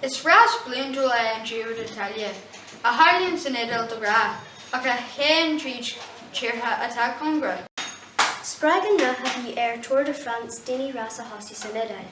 Is rás bliantúil é an Giro d'Italia, a tharlaíonn san Iodáil de ghnáth, ach a théann tríd tíortha atá cóngarach. Spreagann rath a bhí ar Tour de France daoine rás a thosú san Iodáil.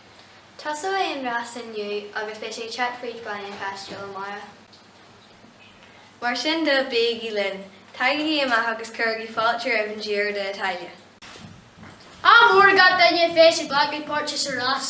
Tosóidh an rás inniu agus beidh sé ag teacht fríd Baile an Chaistil amárach. Mar sin de, bígí linn, tagaigí amach agus cuirigí fáilte roimh an Giro d'Italia! Ádh mór ag gach duine a bheas ag glacadh páirte sa rás!